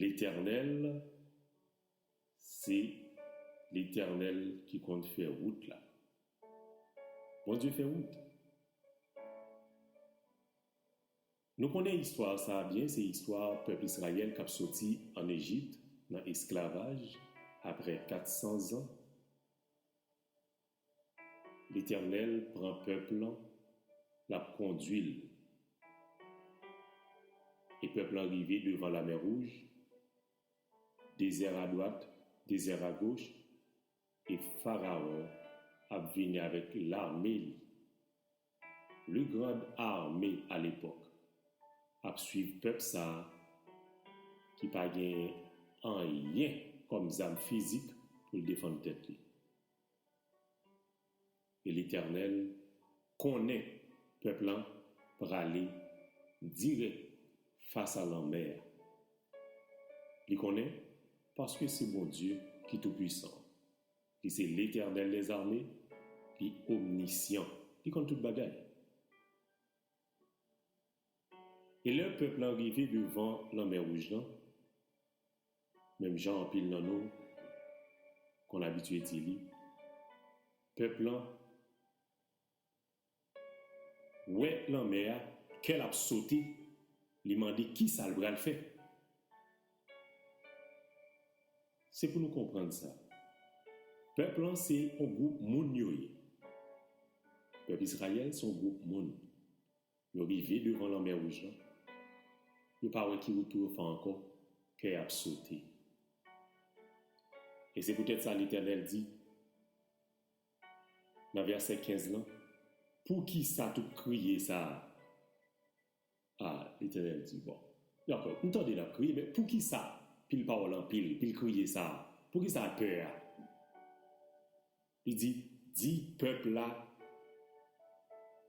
Letènèl se letènèl ki konn fè wout la Bondye fè wout Nou konnen istwa sa a byen se istwa pèp Israyèl kap soti an Ejipt nan esklavaj aprè 400 zan Letènèl pran pèp lan lap kondwil e pèp lan rive devan lamè wouj dezè adwat dezè agoch e farawon ap vini avèk lame li le grand armé a lepòk ap swiv pèp sa ki pa gen anyen kòm zam fizik poul defann tèt li. E Letènèl konnen pèp la prale dirèk fas a lanmè a. Li konnen, paske se Bondye ki Toupuisan an. Li se Letènèl lèzame, li omnisyan, li konn tout bagay. E lè pèp la rive devan Lanmè Wouj lan, menm jan anpil nan nou konn abitye di li, pèp la wè lanmè a, kè l ap sote, li mande ki sa l pral fè. Se pou nou konprann sa, pèp la se yon gwoup moun yo ye, pèp Izrayèl se yon gwoup moun. Yo rive devan lanmè wouj lan, yo pa wè ki wout pou yo fè ankò, kè y ap sote. E se poutèt sa Letènèl di nan vèsè 15 lan, Poukisa tout kriye sa a? A, Letènèl di, bon, dakò, m tande n ap kriye, men poukisa pil pawòl anpil, pil kriye sa a? Poukisa pè a? Li di, Di pèp la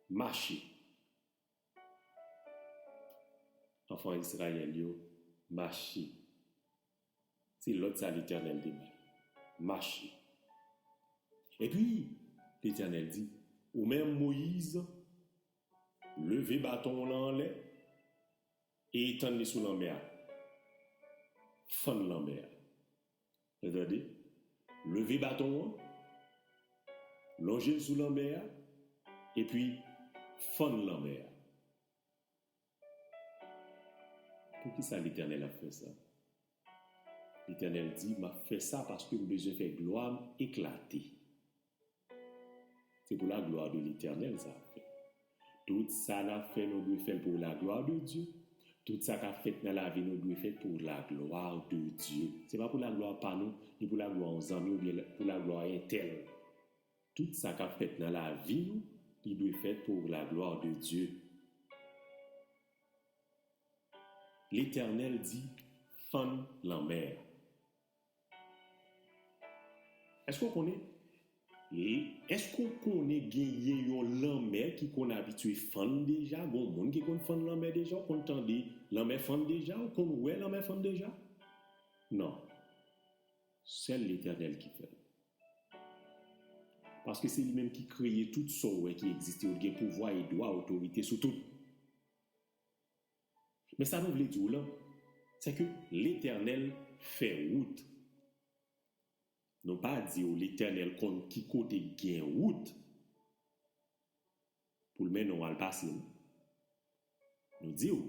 mache. Anfan Izrayèl yo, mache. Se lòd sa Letènèl te bay. Mache. Epi, Letènèl di, Ou menm, Moyiz, leve baton w lan anlè e etann li sou lanmè a. Fann lanmè a. N tande, Leve baton an, lonje l sou lanmè a, epi fann lanmè a. Poukisa Letènèl ap fè sa? Letènèl di, M ap fè sa paske m bezwen fè glwa m eklate. Se pou la glwa de Letènèl sa ap fèt. Tout sa n ap fè nou dwe fè l pou la glwa de Dye. Tout sa k ap fèt nan lavi nou dwe fèt pou la glwa de Dye. Se pa pou la glwa pa nou, ni pou la glwa yon zanmi oubyen pou la glwa entèl. Tout sa k ap fèt nan lavi nou, li dwe fèt pou la glwa de Dye. Letènèl di, Fann lanmè a. Èske w konnen Èske w konnen genyen yon lanmè ki konn abitye fann deja? Gon moun ki konn fann lanmè deja? Ou konn tande lanmè fann deja? Ou konn wè lanmè fann deja? Non. Sèl Letènèl ki fè l. Paske se li menm ki kreye tout sa w wè ki egziste yo. L gen pouvwa e dwa otorite sou tout. Men sa mwen vle di w lan, se ke Letènèl fè wout. Nou pa di w Letènèl konn ki kote gen wout pou l mennen w al pase non. Nou di w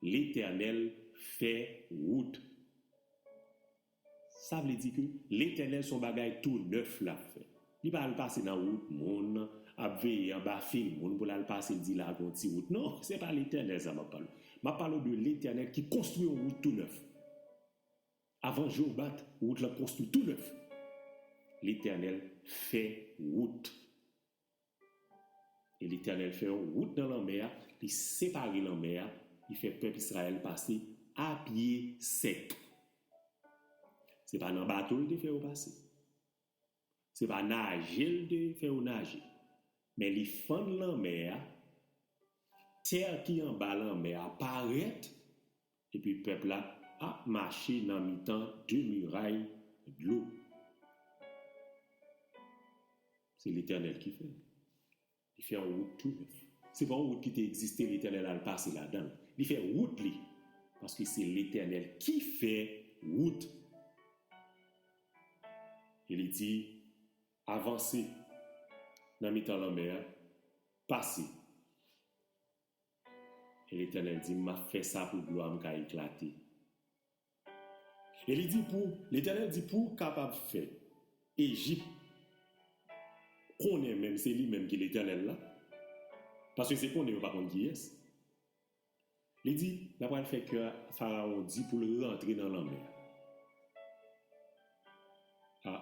Letènèl fè wout. Sa vle di ke Letènèl son bagay tou nèf lap fè. Li pa al pase nan wout moun, ap veye anba fil moun pou lal pase di la gon ti wout. Non, se pa Letènèl sa map pale w. Map pale w de Letènèl ki konstwi yon wout tou nèf. Avan je w bat, wout lan konstwi tou nèf. Letènèl fè wout. E Letènèl fè yon wout nan lanmè a, li separe lanmè a, li fè pèp Izrayèl pase apye sèk. Se pa nan bato l te fè yo pase, se pa naje l te fè yo naje, men li fann lanmè a, tè ki anba lanmè a parèt, Epi pèp la ap mache nan mitan de miray dlo. Se Letènèl ki fè l. Li fè yon wout tou nèf. Se pa yon wout ki te egziste Letènèl al pase ladan l. Li fè wout li. Paske se Letènèl ki fè wout. E li di, Avanse nan mitan lanmè a, pase. E Letènèl di m, M ap fè sa pou glwa m ka eklate. E li di pou, Letènèl di pou w kapab fè Ejip konnen menm se li menm ki Letènèl la, paske se konnen yo pa konn kiyès. Li di, N apral fè kè Farawon di pou l rantre nan lanmè a. A!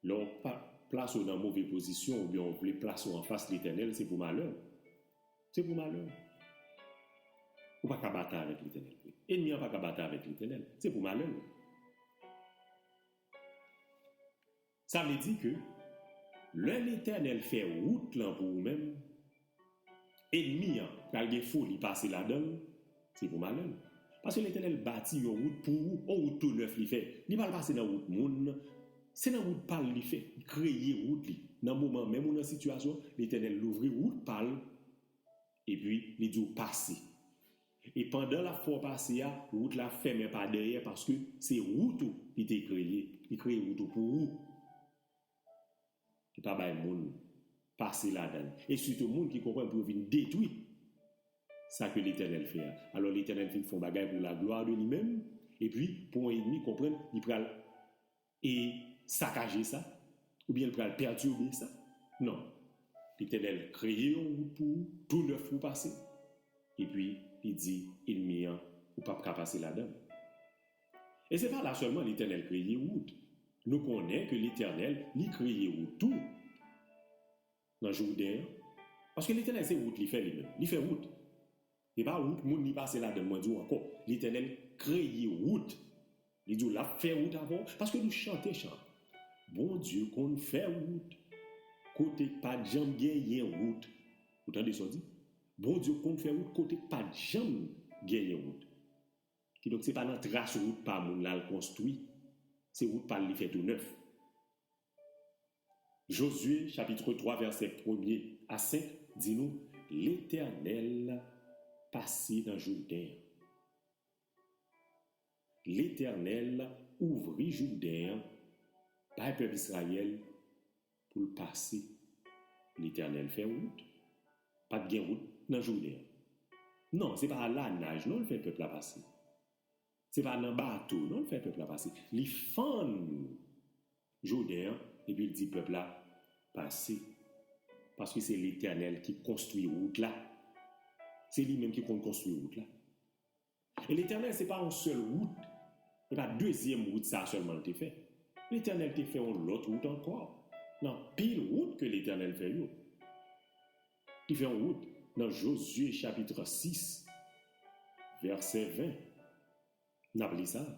Lè w pa plase w nan move pozisyon oubyen w vle plase w anfas Letènèl, se pou malè w. Se pou malè w. Ou pa ka batay avèk Letènèl vre. Enmi an pa ka batay avèk Letènèl. Se pou malè l. Sa vle di ke lè Letènèl fè wout lan pou ou menm, Enmi an pral gen foli pase ladan l, se pou malè l. Paske Letènèl bati yon wout pou ou, on wout tou nèf li fè. Li pral pase nan wout moun, se nan wout pa l li fè, li kreye wout li. Nan moman menm ou nan sitiyasyon, Letènèl louvri wout pa l, epi li di w pase. E pandan l ap fè w pase a, wout la ap fèmen pa dèyè paske se wout ou li te kreye, li kreye wout ou pou ou. ki pa bay moun pase ladan l, e sitou moun ki konprann pou yo vin detwi sa ke Letènèl fè a. Alò, Letènèl fin fè yon bagay pou la glwa de li menm, epi pou yon enmi konprann, li pral e sakaje sa, oubyen li pral pètibe sa. Non. Letènèl kreye yon wout pou ou, tou nèf pou pase, epi li di enmi an, ou p ap ka pase ladan l. E se pa la sèlman Letènèl kreye wout. Nou konnen ke Letènèl li kreye wout tou nan Jouden an. Paske Letènèl se wout li fè li menm. Li fè wout. Se pa wout moun li pase ladann mwen di w ankò. Letènèl kreye wout. Li di w lap fè wout avè w. Paske nou chante chan an. Bondye konn fè wout. Kote k pat janm genyen wout. Ou tande sa w di? Bondye konn fè wout kote k pat janm genyen wout. Kidonk se pa nan tras wout pa moun la l konstwi, se wout pa l li fè tounèf. Jozye chapitre 3 vèsè premye a senk di nou Letènèl pase nan Jouden an. Letènèl ouvri Jouden an bay pèp Izrayèl. pou l pase. Letènèl fè wout. Pa t gen wout nan jounen an. Non, se pa a la naj non l fè pèp la pase. Se pa nan bato non l fè pèp la pase. Li fann Jouden an epi l di pèp la, Pase. Paske se Letènèl ki konstwi wout la. Se li menm ki konn konstwi wout la. E Letènèl se pa yon sèl wout, se pa dezyèm wout sa a sèlman l te fè. Letènèl te fè yon lòt wout ankò nan pil wout ke Letènèl fè yo. Li fè yon wout nan Jozye chapitre 6 vèsè 20, n ap li sa a.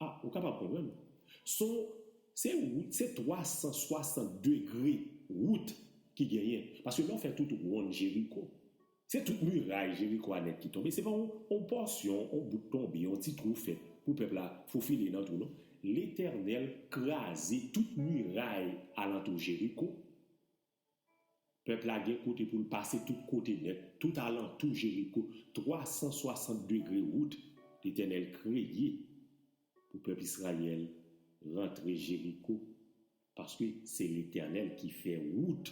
A, ou kapab konprann. Son, se wout, se 360 degre wout ki genyen. Paske lè w fè tout wonn Jeriko, se tout miray Jeriko a nèt ki tonbe. Se pa yon, yon pòsyon, yon bout tonbe, yon ti twou fèt pou pèp la fofile nan twou non. Letènèl kraze tout miray alantou Jeriko. Pèp la gen kote pou l pase tout kote nèt, tout alantou Jeriko, twa san swasant degre wout Letènèl kreye pou pèp Israël rantre Jeriko, paske se Letènèl ki fè wout.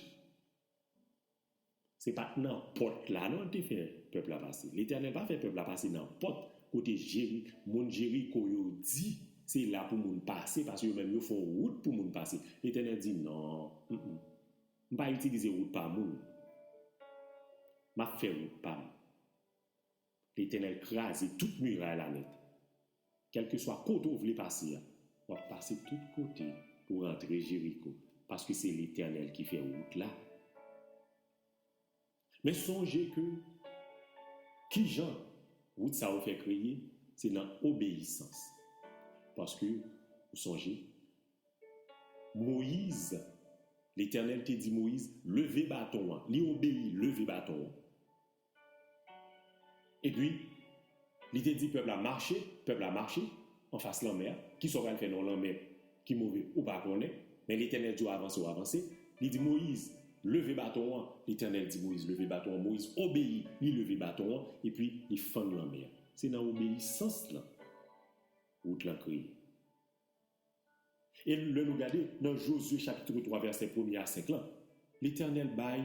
Se pa t nan pòt la non L te fè pèp la pase. Letènèl pa fè pèp la pase nan pòt. Kote jeri moun jeriko yo di se la pou moun pase pase yo menm yo fon rout pou moun pase letènèl di non humm m pa itilize rout pa moun map fè rout pam letènèl kraze tout miray la nèt kelkeswa kote ou vle pase a wap pase tout kote pou rantre jeriko paske se letènèl ki fè rout la. Men sonje ke ki jan wout sa yo fè kreye, se nan obeyisans. Paske, ou sonje, Moyiz, Letènèl te di Moyiz, leve baton an. Li obeyi, leve baton an. Epi, Li te di pèp la, Mache, pèp la mache, anfas lanmè a. Kisa w pral fè nan yon lanmè ki move, ou pa konnen, men Letènèl di w avanse, w avanse. Li di Moyiz, Leve baton an. Letènèl di Moyiz, Leve baton an. Moyiz obeyi, li leve baton an, epi li fann lanmè a. Se nan obeyisans lan wout lan kreye. E lè nou gade nan Jozye chapitre 3 vèsè premye a senk lan, Letènèl bay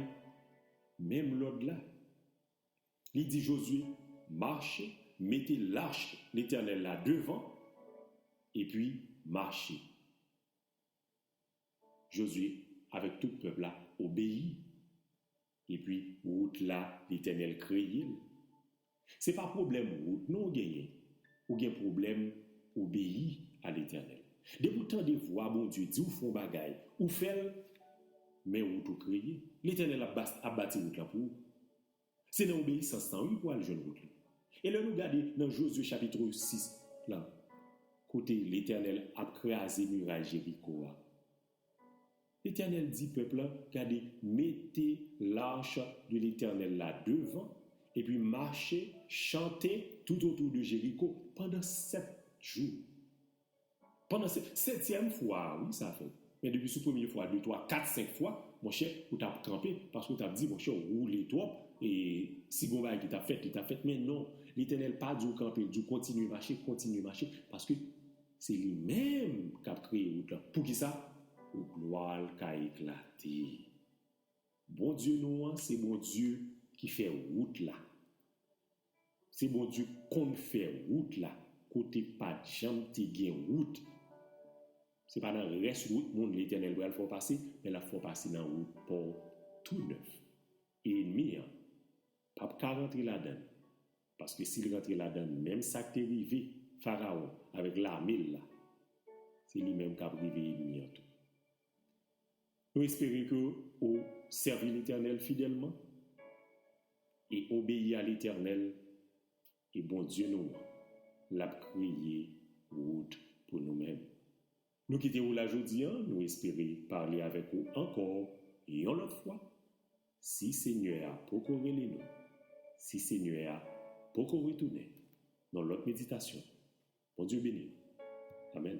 menm lòd la. Li di Jozye, Mache, mete lach Letènèl la devan, epi mache. Jozye avèk tout pèp la obeyi, epi wout la Letènèl kreye l. Se pa pwoblèm wout non ou genyen, ou gen pwoblèm obeyi a Letènèl. Depi ou tande vwa Bondye di w fè yon bagay, ou fè l, men wout ou kreye. Letènèl ap bati wout la pou ou. Se nan obeyisans lan wi pou al jwenn wout li. E lè nou gade nan Jozye chapitre 6 lan kote Letènèl ap kraze miray Jeriko a, Letènèl di pèp lan, gade mete l'arche de l'Etènèl la devan epi mache, chante, toutotou de Jeriko pandan 7 jou. Pandan se setyèm fwa a wi sa fèt. Men depi sou premye fwa, de twa, kat, senk fwa, monchè, ou t ap kanpe, paske ou t ap di, monchè, ou woule twòp, e, si gen yon bagay ki t ap fèt, li t ap fèt. Men non, Letènèl pa di w kanpe, l di w kontinye mache, kontinye mache, paske se li menm k ap kreye wout lan. Poukisa? Pou glwa l ka eklate. Bondye nou an se Bondye ki fè wout la. Se Bondye konn fè wout la kote pat janm te gen wout. Se pa nan rès wout moun Letènèl pral fè w pase, men l ap fè w pase nan wout pa w tou nèf. E enmi an pap ka rantre ladan l, paske si l rantre ladan l, menm sa k te rive Farawon avèk lame l la, se li menm k ap rive enmi an tou. Nou espere ke ou sèvi Letènèl fidèlman e obeyi a Letènèl, e Bondye nou an lap kreye wout pou nou menm. Nou kite ou la jodi an, nou espere pale avèk ou ankò yon lòt fwa, si Senyè a poko rele nou, si Senyè a poko retounen, nan lòt meditasyon. Bondye beni nou. Amen.